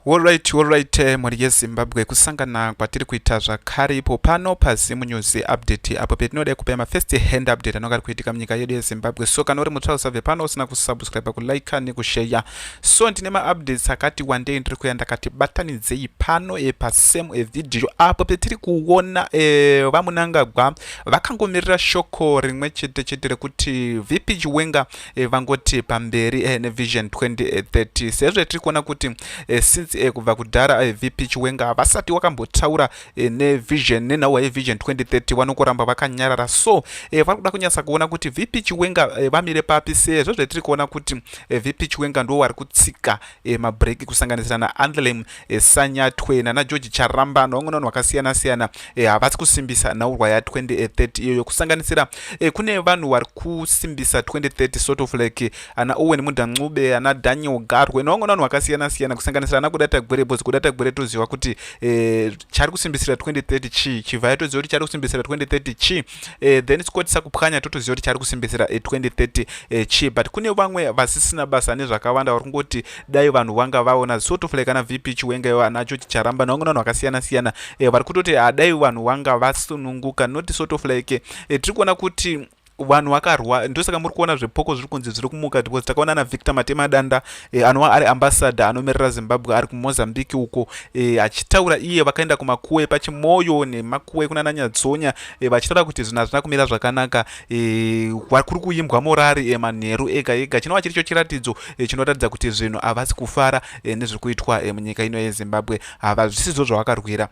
Horyt horyt mhuri yeZimbabwe kusangana kwatiri kuita zvakare ipo pano paZim News Update apo petinoda kupa ma first hand update anonga ari kuitika munyika yedu yeZimbabwe so kana uri mutsva usabve pano usina kusubscribe kulike nekusheya so ndine maupdates akati wandei ndiri kuya ndakati batanidzei pano e pasem evideo apo petiri kuona e, vamunangagwa vakangomirira shoko rimwe chete chete rekuti VP Chiwenga eh, vangoti pamberi eh, nevision 2030 sezvo tiri kuona kuti eh, since eh, kubva kudhara eh, vp chiwenga havasati wakambotaura eh, nevision nenhauwa yevision 2030 vanokuramba vakanyarara so eh, vari kuda kunyatsa kuona kuti vp chiwenga eh, vamire papi sezvo zvetiri kuona kuti eh, vp chiwenga ndo wari kutsika eh, mabreak kusanganisira naandlem e, sanyatwe nana george charamba nevamwe vanhu vakasiyana siyana e, havasi kusimbisa nhaurwa ya 2030 iyoyo kusanganisira e, kune vanhu vari kusimbisa 2030 sort of like ana owen mudancube ana daniel garwe nevamwe vanhu vakasiyana siyana kusanganisira ana kudata gwere bhozi kudata gwere toziva kuti e, chari kusimbisira 2030 chii chivhaya toziva kuti chari kusimbisira 2030 chii eh, then tikotisa kupwanya totoziva kuti chari kusimbisira eh, 2030 eh, chi but kune vamwe vasisina basa nezvakawanda vari kungoti dai vanhu vanga vaona sort of like ana vp chiwenga iwo anacho chicharamba navamwe vanhu vakasiyana siyana eh, vari kutoti adai ah, vanhu vanga vasununguka not sort of like eh, tiri kuona kuti vanhu vakarwa ndosaka muri kuona zvepoko zviri kunzi zviri kumuka because takaona na victor matemadanda e, anova ari ambassador anomirira zimbabwe ari kumozambique uko e, achitaura iye vakaenda kumakuwe pachimoyo nemakuwe kunana nyadzonya e, vachitaura kuti zvinhu hazvina kumira zvakanaka e, kuri kuimbwa morari e, manheru ega ega chinova chiri cho chiratidzo e, chinoratidza kuti zvinhu havasi kufara e, nezviri kuitwa e, munyika ino yezimbabwe havazvisizvo zvavakarwira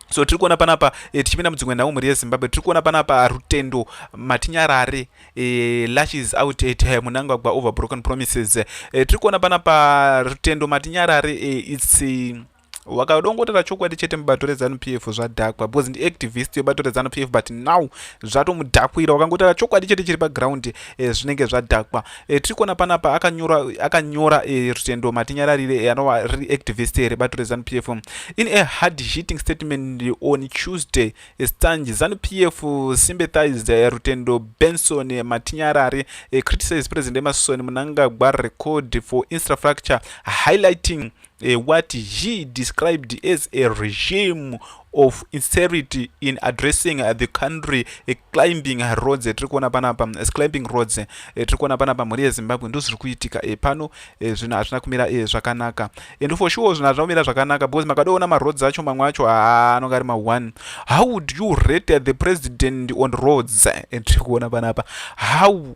so tiri kuona panapa e, tichipinda mudzimwe nhau mhuri yezimbabwe tiri kuona panapa rutendo matinyarare e, eh, lashes out at her munangagwa over broken promises e, tiri kuona panapa rutendo matinyarare e, its e, wakadongotera chokwadi chete mubato rezanu p f zvadhakwa because ndiactivist yebato rezanu p f but now zvatomudhakwira wakangotera chokwadi chete chiri paground e, zvinenge zvadhakwa E, tiri kuona panapa akanyora akanyora e, rutendo matinyararire e, anova riri activist rebato rezanu p f in a hard hitting statement on tuesday estange zanu p f sympathized e, rutendo benson e, matinyarari e, criticized president emerson munangagwa record for infrastructure highlighting uh, what he described as a regime of inserity in addressing uh, the country uh, climbing roads tiri kuona panapa uh, climbing roads uh, tiri kuona panapa mhuri yezimbabwe ndo zviri kuitika uh, pano uh, zvinhu hazvina kumira uh, zvakanaka and for sure zvinhu hazvina kumira zvakanaka because makadoona maroads acho mamwe acho ah, anonga ari ma1 how would you rate the president on roads uh, tiri kuona panapa how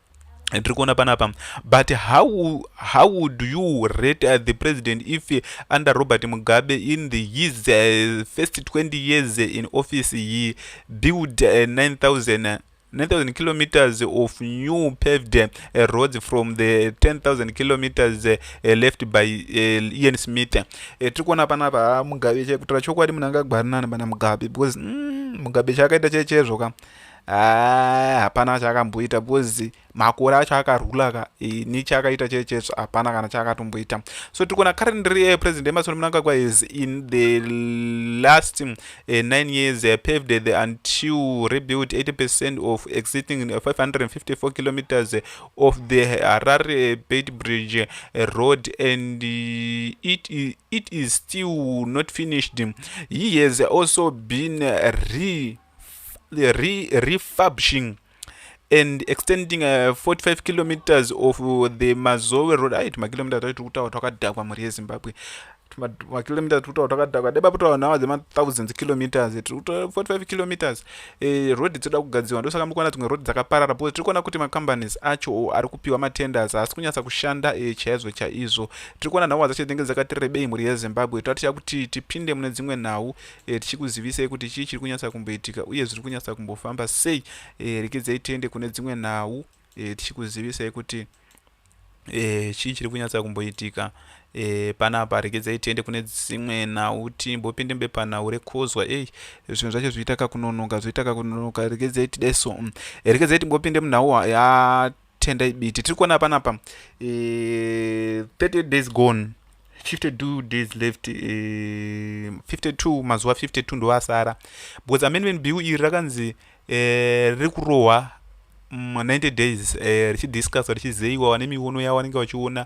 tiri kuona panapa but how, how would you rate uh, the president if uh, under robert mugabe in the, his uh, first 20 years in office he built uh, 9000 9000 kilometers of new paved uh, roads from the 10000 kilometers uh, uh, left by uh, ian smith uh, tiri kuona panapa ha ah, mugabe chekutaura chokwadi munhu angagwarinani pana mugabe because mm, mugabe chaakaita chechezvo ka haa hapana chaakamboita because makore acho akarula ka ini chaakaita chee chetsva hapana kana chaakatomboita so tiri kuona currently eh, president emerson mnangagwa is in the last uh, nine years uh, paved the until rebuilt 80 percent of existing 554 eh, kilometers of the harare bait bridge eh, road and uh, it, it is still not finished he has also been re re refurbishing and extending uh, 45 kilometers of uh, the mazowe road aiti makilometers aiti kutaura twakadhakwa mhuri yezimbabwe makilometers tiri kutaura twakadhakwa dai paputaura nhau dzemathousands kilometers tiri kutaura 45 kilometers eh, road dzinoda kugadzirwa ndosaka muri kuona dzimwe road dzakaparara because tiri kuona kuti macompanies acho ari kupiwa matenders haasi kunyatsa kushanda eh, chaizvo chaizvo tiri kuona nhau dzacho dzinenge dzakati rebei mhuri yezimbabwe taticha kuti tipinde mune dzimwe nhau e, tichikuzivisei kuti chii chiri kunyatsa kumboitika uye zviri kunyatsa kumbofamba sei e, rekedzai tiende kune dzimwe nhau e, tichikuzivisai kuti e, chii chiri kunyatsa kumboitika e, panapa rekedzai tiende kune dzimwe nhau timbopinde mubepanhau rekozwa ei zvinhu zvacho zvoita kakunonoka zvoita kakunonoka rekedzai tidai so mm. rekedzai timbopinde munhau ya tendai biti tiri kuona panapa e, 30 days gone 52 days left e, eh, 52 mazuva 52 ndoasara because amendment bill iri rakanzi e, riri kurohwa 90 days eh, richidiscusswa richizeyiwa vane miwono yavo vanenge vachiona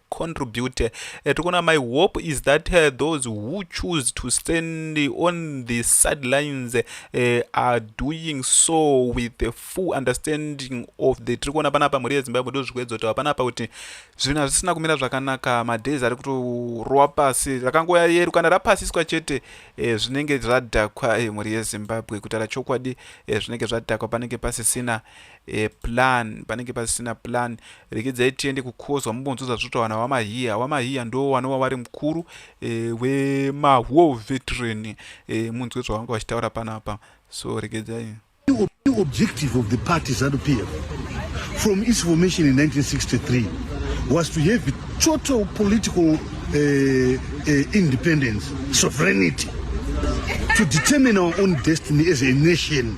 contribute eh, tiri kuona my hope is that uh, those who choose to stand on the sidelines uh, are doing so with the full understanding of the tiri kuona panapa mhuri yezimbabwe ndo zvikuedza kutaura panapa kuti zvinhu hazvisina kumira zvakanaka madays ari kutorowa pasi rakangoya yeru kana rapasiswa chete uh, zvinenge zvadhakwa uh, mhuri yezimbabwe kutaura chokwadi uh, zvinenge zvadhakwa panenge pasisina e, plan panenge pasina plan rekedza itiende kukozwa mumbonzwa zvazvotaura nawamahiya wamahiya ndo wanowa wari mukuru e, eh, wemahwo veteran e, eh, munzwe zvavanga vachitaura panapa so rekedzai objective of the party zanu p f from its formation in 1963 was to have total political uh, uh, independence sovereignty to determine our own destiny as a nation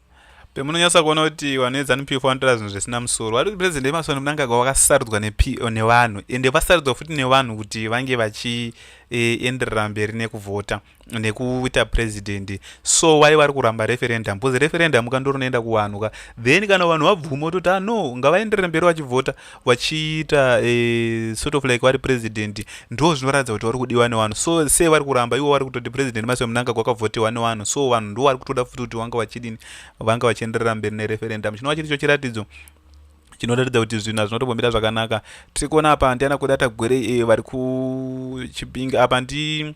pemunonyatsa kuona kuti vanhu veZanu PF vanotaura zvinhu zvisina musoro vari kuti president Emerson Mnangagwa vakasarudzwa nevanhu ende vasarudzwa futi nevanhu kuti vange vachienderera eh, mberi nekuvhota nekuita president so why vari kuramba referendum because referendum ka ndorinoenda kuvanhu ka then kana vanhu vabvuma ototi ano ah, ngavaenderere mberi vachivhota vachiita eh, sort of like vari president ndo zvinoratidza kuti vari kudiwa nevanhu so se vari kuramba ivo vari kutoti president mase munanga kwakavhotewa nevanhu so vanhu ndo vari kutoda futi kuti vanga vachidini vanga vachienderera mberi nereferendum chinova chiri cho chiratidzo chinoratidza kuti zvinhu hazvinotombomira zvakanaka tiri kuona apa ndiana kuda tagwerei eh, vari kuchipinga apa ndi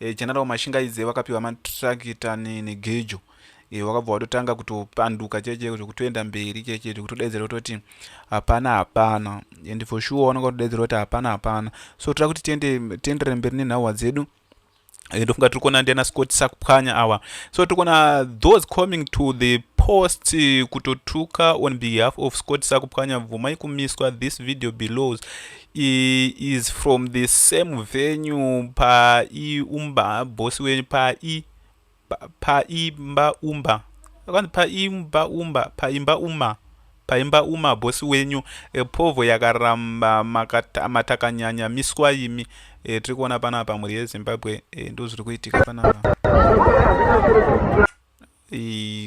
e, general mashingaidze vakapiwa matrakita negejo e, wakabva watotanga kutopanduka checheko zvekutoenda mberi cheche zvekutodaidzira kutoti hapana hapana and for sure wanonga kutodaidzira kuti hapana hapana so toda kuti tiende tiendere mberi nenhauwa dzedu Eh, ndofunga tiri kuona ndiana scott sakupwanya awa so tiri kuona those coming to the post eh, kutotuka on behalf of scott sakupwanya bvumai kumiswa this video belows He is from the same venue pa i umba boss wenyu pa i pa imba umba akanzi pa imba umba pa imba uma pa imba uma boss wenyu e, povo yakaramba makata, matakanyanya miswa imi e, tiri kuona panapa mhuri yezimbabwe e, ndozviri kuitika panapa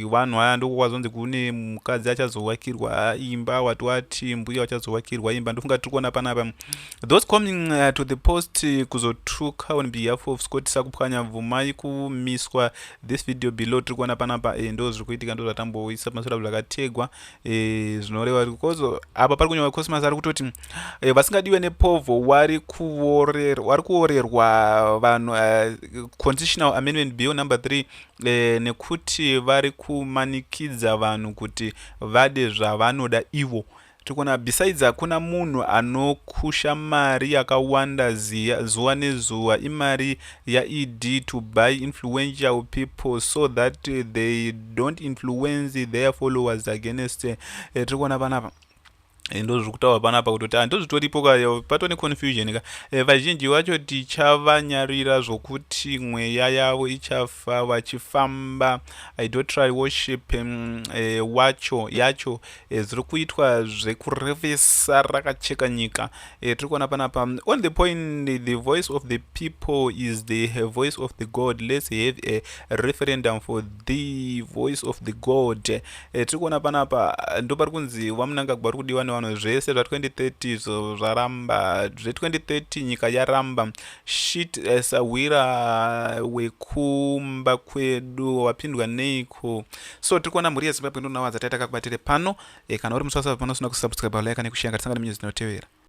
vanhu aya ndoko kwazonzi kune mukadzi achazovakirwa imba wati wati mbuya wachazovakirwa imba ndofunga tiri kuona panapa those coming uh, to the post uh, kuzotuka on behalf of scott sakupwanya bvumai kumiswa this video below tiri kuona panapa eh, ndo zviri kuitika ndo zvatamboisa pamasora zvakategwa eh, zvinoreva because apa pari kunyora cosmas ari kutoti eh, vasingadiwe nepovho wari kuorerwa vanhu uh, conditional amendment bill number three e, nekuti vari kumanikidza vanhu kuti vade zvavanoda ivo tikona besides hakuna munhu anokusha mari yakawanda ziya zuva nezuva imari yaed to buy influential people so that they don't influence their followers against eh, tiri kuona panapa Eh, ndozvikutaura panapa kutoti handozvitoripo ka patone confusion ka eh, vazhinji vacho tichavanyarira zvokuti mweya yavo ichafa vachifamba idotrary worship mm, eh, wacho yacho ziri kuitwa zvekurevesa rakacheka nyika tiri kuona panapa mm, on the point the voice of the people is the voice of the god let's have a referendum for the voice of the god E, tiri kuona panapa ndopari kunzi vamunangagwa vari kudiwa nevanhu zvese zva2030 izvo zvaramba zve2030 nyika yaramba shit eh, sahwira wekumba kwedu wapindwa neiko so tiri kuona mhuri yezimbabwe ndonawa dzataita kakubatire pano e, kana uri muswasavi pano usina kusubscribe like nekushenga tisangane minyuzi inotevera